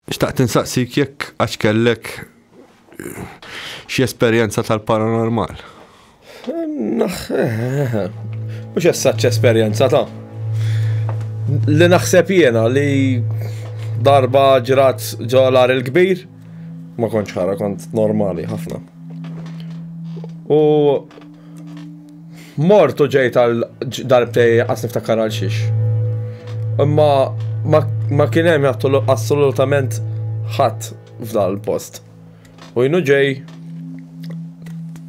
Xtaqt insaqsik jekk għax kellek xi esperjenza tal-paranormal. Mhux essaċ esperjenza ta' li naħseb jiena li darba ġrat ġolar il-kbir ma kontx ħara kont normali ħafna. U Mort u ġejt għal darbtej għas niftakar għal xiex. Imma ma kien hemm assolutament ħadd f'dal post. U jnu ġej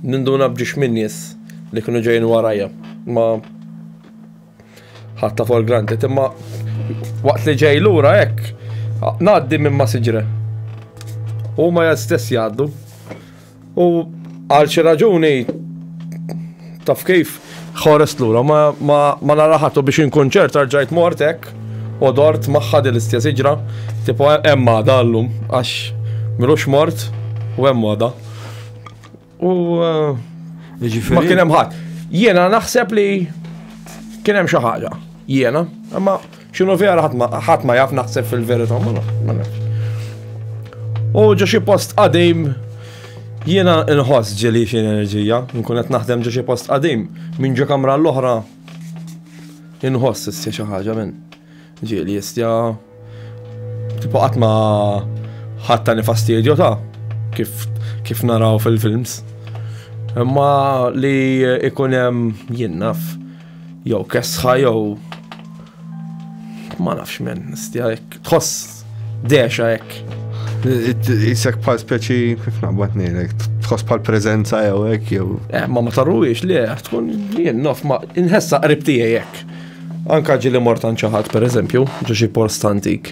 ninduna bġiex minn nies li kienu ġejn warajja. Ma ħatta for granted imma waqt li ġej lura hekk ngħaddi minn ma siġre. U ma stess jgħaddu. U għal xi raġuni taf kif ħorest lura ma, ma, ma naraħatu biex inkun ċert arġajt mortek u dort magħha din l-istess iġra, tipo hemm għada llum għax milux mort u hemm għada. U eh, ma kien hemm ħadd. Jiena naħseb li kien hemm xi ħaġa. Jiena, imma Xinu vera ħadd ma jaf naħseb fil-verità ma nafx. U ġo xi post qadim jiena nħoss ġeli xi enerġija, nkun qed naħdem ġo xi post qadim minn ġo kamra l-oħra inħoss issja xi ħaġa minn ġieli issja tipo qatt ma ħatta nifastidju ta' kif kif naraw fil-films. Imma li ikun hemm jinnaf. Jew kesħa jew ma nafx men, stja hekk tħoss dexa hekk. Isek bħal speċi kif naqbad ngħidlek, tħoss bħal preżenza jew hekk jew. Eh, ma ma tarruwiex li tkun jien nof ma inħessa qrib tiegħi hekk. Anka ġili mortan ċaħat pereżempju, ġo xi post antik.